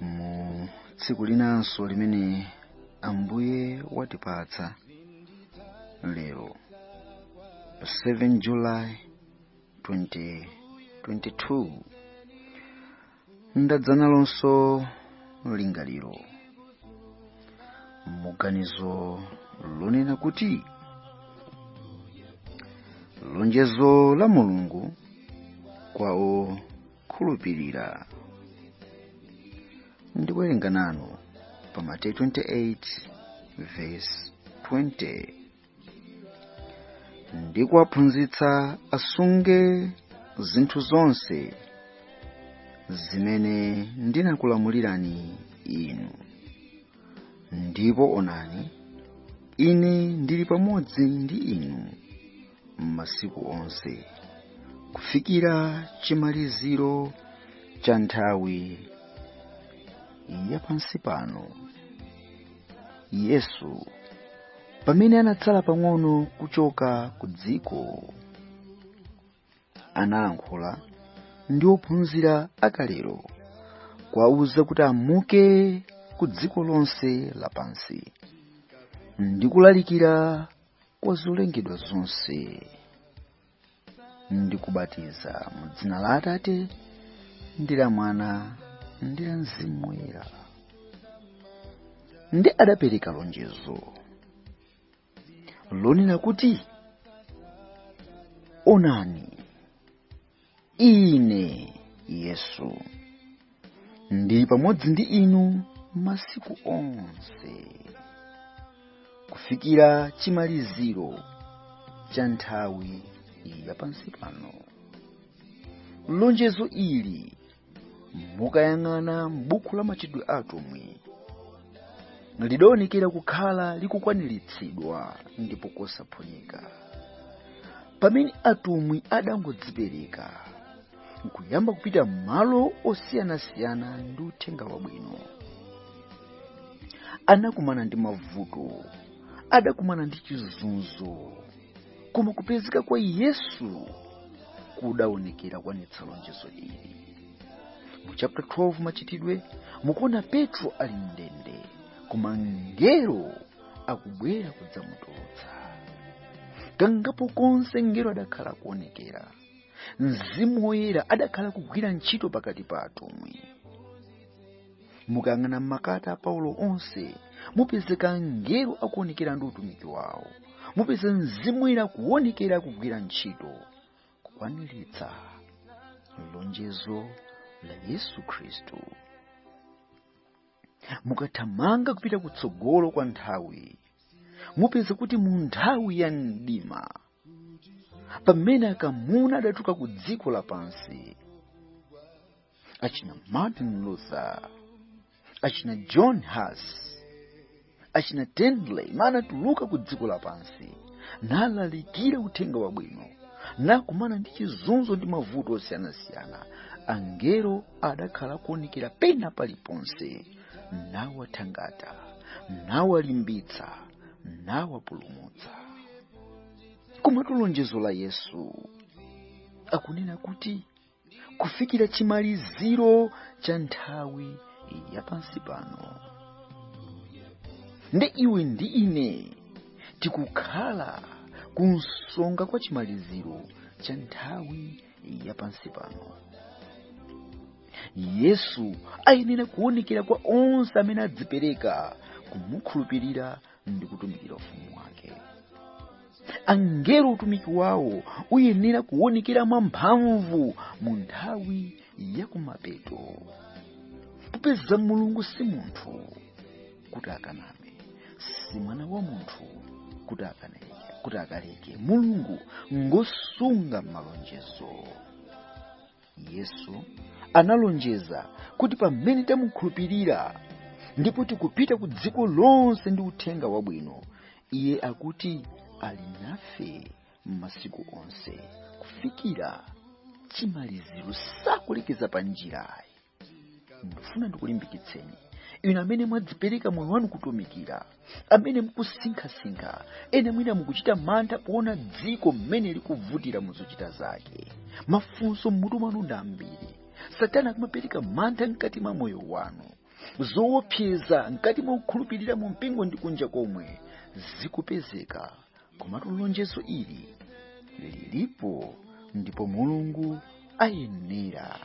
mu tsiku linanso limene ambuye watipatsa lero 7 july 2022 ndadza nalonso lingaliro muganizo lonena kuti lonjezo la mulungu kwa o khulupirira ndiwerenga nanu pa mateyu 28 vesi 20 ndi kuwaphunzitsa asunge zinthu zonse zimene ndinakulamulirani inu ndipo onani ine ndili pamodzi ndi inu masiku onse kufikira chimaliziro cha nthawi ya pansi pano yesu pamene anatsala pang'ono kuchoka ku dziko analankhula ndi ophunzira akalero kuwauza kuti amuke ku dziko lonse lapansi ndi kulalikira kwa zolengedwa zonse ndi kubatiza mu dzina la atate ndi la mwana ndi la mzimu woyera ndi adapereka lonjezo lonena kuti onani ine yesu ndili pamodzi ndi inu masiku onse kufikira chimaliziro cha nthawi ya pansi pano lonjezo ili mukayang'ana m'buku la machitidwe a atumwi lidaonekera kukhala likukwaniritsidwa ndipo kosaphonyeka pamene atumwi adangodzipereka nkuyamba kupita m'malo osiyanasiyana ndi uthenga wabwino anakumana ndi mavuto adakumana ndi chizunzo koma kupezeka kwa yesu kudaonekera kukwanitsa lonjezo ili mu chapter 12 machitidwe mukuona petro ali mndende koma mngelo akubwera kudzamutulutsa kangapo konse mngelo adakhala kuonekera mzimu woyera adakhala kugwira ntchito pakati pa atumwi mukayang'ana m'makalata a paulo onse mupezeka angelo akuonekera ndi utumiki wawo mupeza mzimu woyera kuonekera kugwira ntchito kukwaniritsa lonjezo la yesu khristu mukathamanga kupita kutsogolo kwa nthawi mupeza kuti mu nthawi ya mdima pamene akamuna adadzuka ku dziko lapansi achina martin luther achina john hus achina tyndale anatuluka ku dziko lapansi nalalikira uthenga wabwino nakumana ndi chizunzo ndi mavuto osiyanasiyana angelo adakhala kuonekera pena paliponse nawathangata nawalimbitsa nawapulumutsa komatu lonjezo la yesu akunena kuti kufikira chimaliziro cha nthawi ya pansi pano ndi iwe ndi ine tikukhala kunsonga kwa chimaliziro cha nthawi ya pansi pano yesu ayenera kuonekera kwa onse amene adzipereka kumukhulupirira ndi kutumikira ufumu wake angelo utumiki wawo uyenera kuwonekera mwamphamvu mu nthawi ya kumapeto popeza mulungu si munthu kuti akaname si mwana wa munthu kuti akaneke kuti akaleke mulungu ngosunga malonjezo yesu analonjeza kuti pamene tamukhulupirira ndipo tikupita ku dziko lonse ndi uthenga wabwino iye akuti ali nafe m'masiku onse kufikira chimaliziro sakulekeza pa njirayi ndifuna ndikulimbikitseni inu amene mwadzipereka moyo wanu kutumikira amene mukusinkhasinkha ena mwina mukuchita mantha poona dziko mmene likuvutira mu zochita zake mafunso m'mutu mwanu ndi ambiri satana akumapereka mantha mkati mwa moyo wanu zoopseza mkati mwa kukhulupirira mu mpingo ndi kunja komwe zikupezeka komatu lonjezo ili lilipo ndipo mulungu ayenera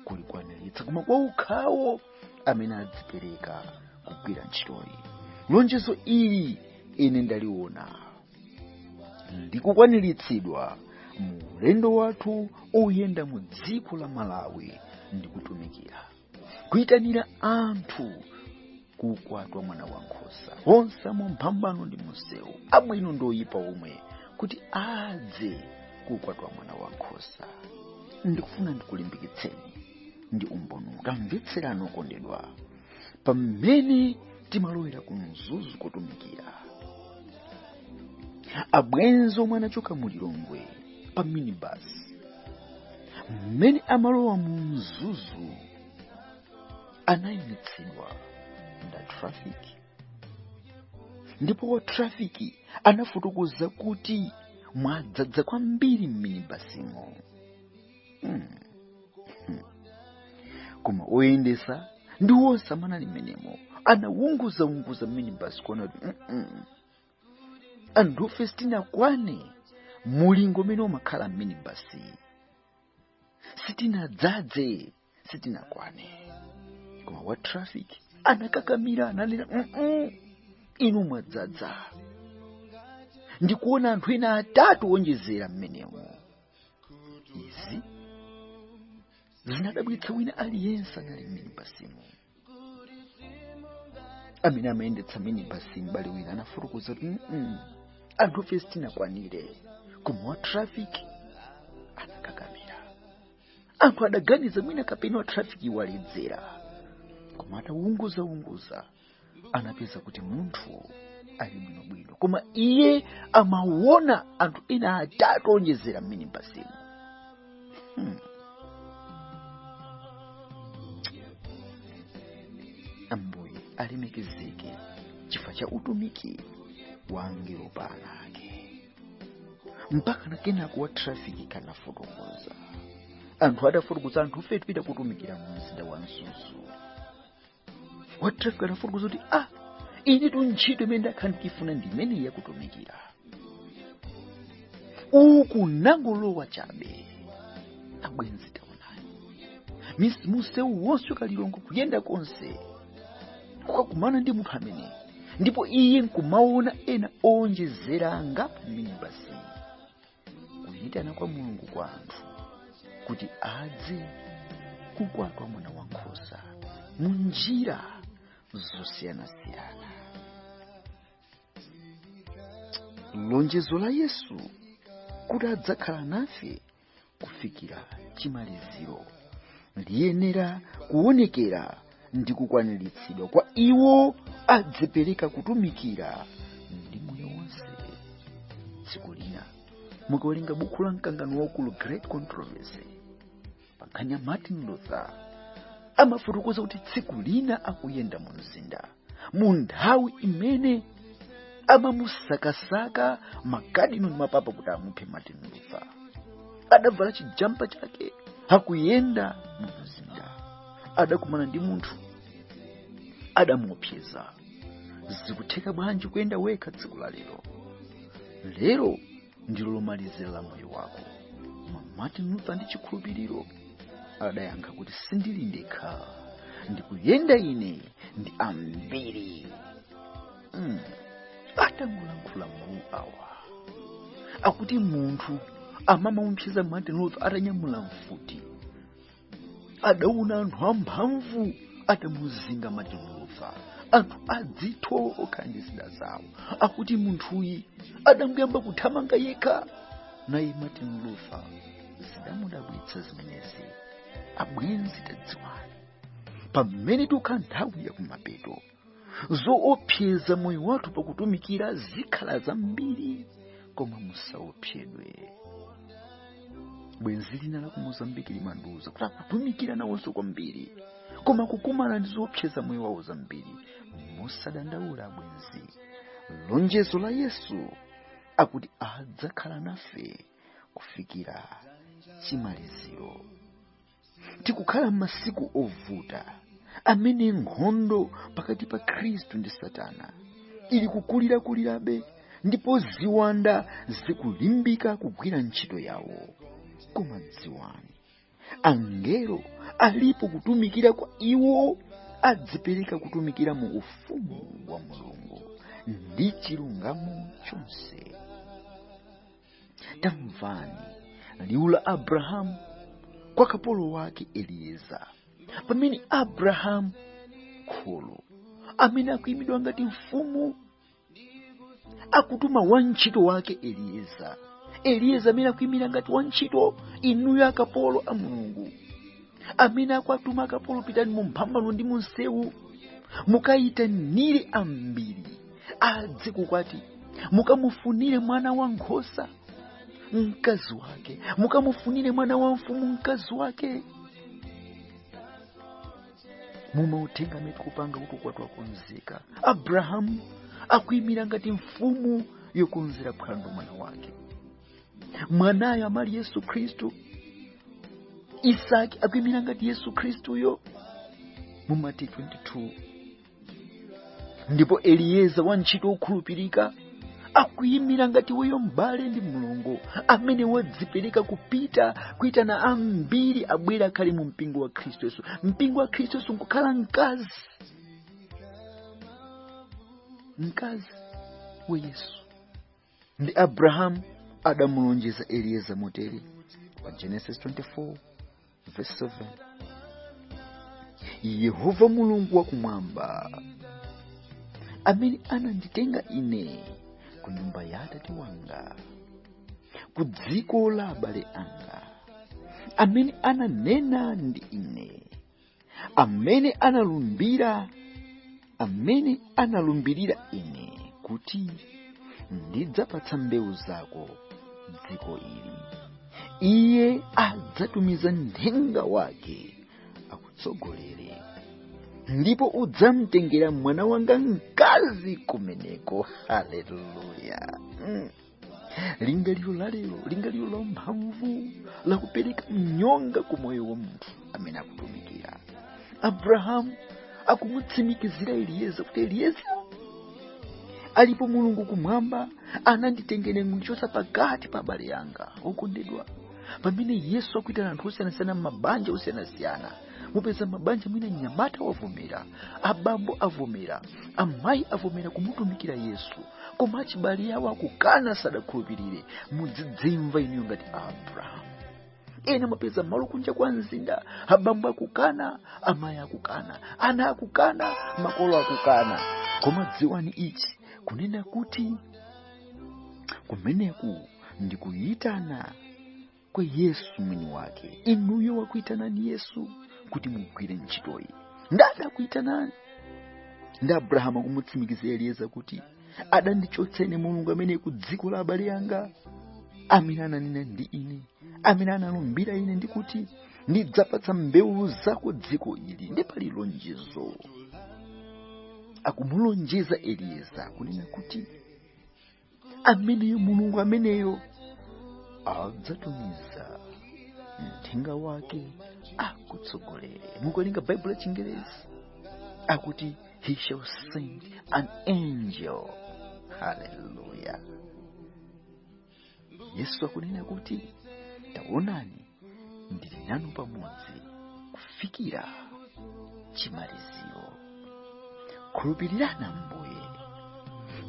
kulikwaniritsa koma kwa okhawo amene adzipereka kugwira ntchitoyi lonjezo ili ine ndaliona likukwaniritsidwa mu ulendo wathu oyenda mu dziko la malawi ndikutumikira kuyitanira anthu ku ukwati wa mwana wa nkhosa onse mu mphambano ndi mumsewu abwino ndi oyipa omwe kuti adze ku ukwati wa mwana wa nkhosa ndikufuna ndikulimbikitseni ndi umboni utamvetserani okondedwa pamene timalowera ku mzuzu kotumikira abwenzi omwe anachoka mu lilongwe pa minibasi mmene amalowa mu mzuzu anayimitsidwa ndi a trafiki ndipo wa trafiki anafotokoza kuti mwadzadza kwambiri m'minibasimo hmm. hmm. koma oyendetsa ndi onse amene anali mmenemo anawunguza wunguza minibasi kuona kuti mm -mm. anthufe sitinakwane mulingo umene umakhala mminibasi sitinadzadze sitinakwane koma wa traffic anakakamira ananena "Mm-mm, inu mwadzadza ndikuona anthu ena atatu onjezera mmenemo izi zinadabwitsa wina aliyense anali mminibasimo amene amayendetsa minibasi m'bale wina anafotokoza kuti "Mm-mm, anthufe sitinakwanire koma wa trafiki anakakamira anthu adaganiza mwina kapena wa trafiki waledzera koma atawunguzawunguza anapeza kuti munthu ali bwinobwino koma iye amawona anthu ena atatu onjezera m'minibasimo Hmm. ambuye alemekezeke chifukwa cha utumiki wa angelo pa ana ake mpaka na kenako wa trafiki anafotokoza anthu atafotokoza anthufe tipita kotumikira mu mzinda wa mzuzu wa traffic anafotokoza kuti ah inetu ntchito imene ndakhala ndikuifuna ndi imeneyi yakutumikira uku ndangolowa chabe abwenzi taonani Mis- msewu wonse wa ku lilongwe kuyenda konse kukakumana ndi munthu ameneyi ndipo iye nkumaona ena owonjezera pa minibasi kuyitana kwa mulungu kwa anthu kuti adze ku ukwati wa mwana wa nkhosa mu njira zosiyanasiyana lonjezo la yesu kuti adzakhala nafe kufikira chimaliziro liyenera kuonekera ndi kukwaniritsidwa kwa iwo adzipereka kutumikira ndi moyo wonse tsiku lina mukawerenga bukhu la mkangano waukulu great controversy pankhani ya martin luther amafotokoza kuti tsiku lina akuyenda mu mzinda mu nthawi imene amamusakasaka makadino ndi mapapa kuti amuphe martin luther adavala chijampa chake akuyenda mu mzinda adakumana ndi munthu adamuopseza zikutheka bwanji kuyenda wekha tsiku la lero lero ndilo lomalizira la moyo wako koma martin luther ndi chikhulupiriro adayankha kuti sindili ndekha ndikuyenda ine ndi ambiri atangolankhula mawu awa akuti munthu amamuopseza martin luther atanyamula mfuti adaona anthu amphamvu atamuzinga martin luther anthu adzitho ndi zida zawo akuti munthuyu adangoyamba kuthamanga yekha naye martin luther zidamudabwitsa zimenezi abwenzi tadziwani pamene tikukhala nthawi yakumapeto zoopseza moyo wathu pakutumikira zikhala zambiri koma musaopsedwe bwenzi lina la ku mozambiki limandiuza kuti akutumikira nawonso kwambiri koma kukumana ndi zoopseza moyo wawo zambiri musadandaule bwenzi lonjezo la yesu akuti adzakhala nafe kufikira chimaliziro tikukhala m'masiku ovuta amene nkhondo pakati pa khristu ndi satana ili kukulirakulirabe ndipo ziwanda zikulimbika kugwira ntchito yawo koma dziwani angelo alipo kutumikira kwa iwo adzipereka kutumikira mu ufumu wa mulungu ndi chilungamo chonse tamvani liwu la abrahamu kwa kapolo wake elieza pamene abrahamu kholo amene akuyimira ngati mfumu akutuma wantchito wake elieza elieza amene akuyimira ngati wantchito inuyo akapolo a mulungu amene akwatuma akapolo pitani mu mphambano ndi mu msewu mukayitanire ambiri adze kukwati mukamufunire mwana wa nkhosa mkazi wake mukamufunire mwana wa mfumu mkazi wake mumautenga amene tikupanga kuti ukwati wakonzeka abrahamu akuyimira ngati mfumu yokonzera phwando mwana wake mwanayo amali yesu khristu isaki akuimira ngati yesu khristuyo mu mateyu 22 ndipo eliyeza wantchito wokhulupirika akuyimira ngati weyo m'bale ndi mlongo amene wadzipereka kupita kuitana ambiri abwere akhale mu mpingo wa khristu yesu mpingo wa khristu yesu nkukhala mkazi mkazi wa yesu ndi abrahamu adamulonjeza eliyeza motere pa genesis 24 verse 7 yehova mulungu wakumwamba amene ananditenga ine ku nyumba ya atate wanga ku dziko la abale anga amene ananena ndi ine amene analumbira amene analumbirira ine kuti ndidzapatsa mbewu zako dziko ili iye adzatumiza nthenga wake akutsogolere ndipo udzamtengera mwana wanga mkazi kumeneko haleluya mm. lingaliro la lero lingaliro la mphamvu la kupereka mnyonga ku moyo wa munthu amene akutumikira abrahamu akumutsimikizira eliyeza kuti eliyeza alipo mulungu kumwamba ananditengera kundichotsa pakati pa abale anga okondedwa pamene yesu akuitana anthu osiyanasiyana m'mabanja osiyanasiyana mupeza mabanja mwina mnyamata wavomera abambo avomera amayi avomera kumutumikira yesu koma achibale awo akukana sadakhulupirire mudzidzimva inuyo ngati abrahamu ena mwapeza malo kunja kwa mzinda abambo akukana amayi akukana ana akukana makolo akukana koma dziwani ichi kunena kuti kumeneku ndikuyitana kwa yesu mwini wake inuyo wakuitanani yesu kuti mugwire ntchitoyi nda adakuitanani ndi abrahamu akumutsimikizira eliyeza kuti adandichotsa ine mulungu amene ku dziko la abale anga amene ananena ndi ine amene analumbira ine ndi kuti ndidzapatsa mbewu zako dziko ili ndi pali lonjezo akumulonjeza eliyeza kunena kuti ameneyo mulungu ameneyo adzatumiza mthenga wake akutsogolere mukawerenga baibulo la chingerezi akuti he shall send an angel haleluya yesu akunena kuti taonani ndili nanu pamodzi kufikira chimaliziro khulupirirani ambuye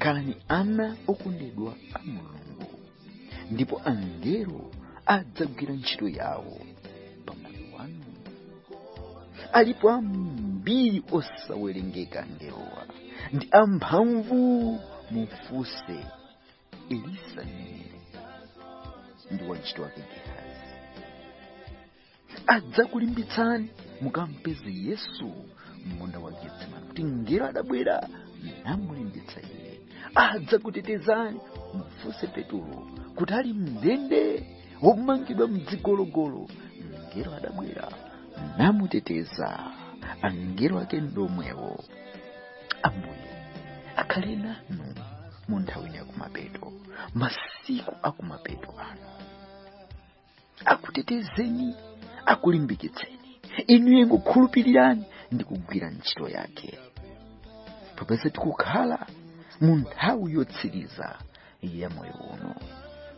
khalani ana okondedwa a mulungu ndipo angelo adzagwira ntchito yawo pamoyo wanu alipo ambiri osawerengeka angelowa ndi amphamvu mufunse elisa mneneri ndi wantchito wake gehazi adzakulimbitsani mukampeze yesu m'munda wa getsemani kuti mngelo adabwera namulimbitsa iye adzakutetezani mufunse petulo kuti ali mndende womangidwa mdzigologolo mngelo adabwera namuteteza angelo ake ndomwewo ambuye akhale nanu mu nthawi ino yakumapeto masiku akumapeto ano akutetezeni akulimbikitseni inuyo ingokhulupirirani ndi kugwira ntchito yake popeza tikukhala mu nthawi yotsiriza ya moyo uno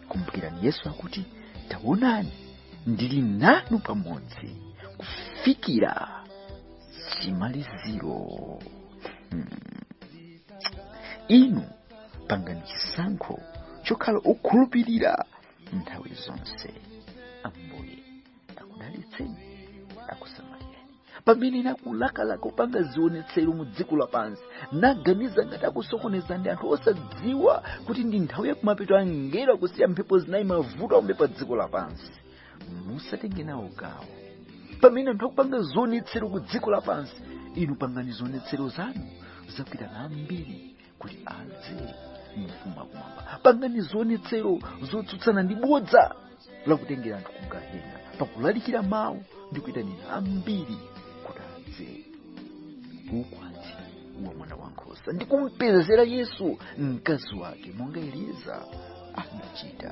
kumbukirani yesu akuti taonani ndili nanu pamodzi kufikira chimaliziro hmm. inu pangani chisankho chokhala okhulupirira nthawi zonse ambuye akudalitseni akusamalireni pamene ena akulakalaka kupanga zionetsero mu dziko lapansi naganiza ngati akusokoneza ndi anthu osadziwa kuti ndi nthawi yakumapeto angelo akusiya mphepo zinayi mavuto aombe pa dziko lapansi musatenge nawo gawo pamene anthu akupanga zionetsero ku dziko lapansi inu pangani zionetsero zanu zakuitana ambiri kuti adze mu ufumu wa kumwamba pangani zionetsero zotsutsana ndi bodza lakutengera anthu ku gehena pakulalikira mawu ndi kuyitanira ambiri kuti adze ku ukwati wa mwana wa nkhosa ndi kumpezera yesu mkazi wake monga eliezara adachita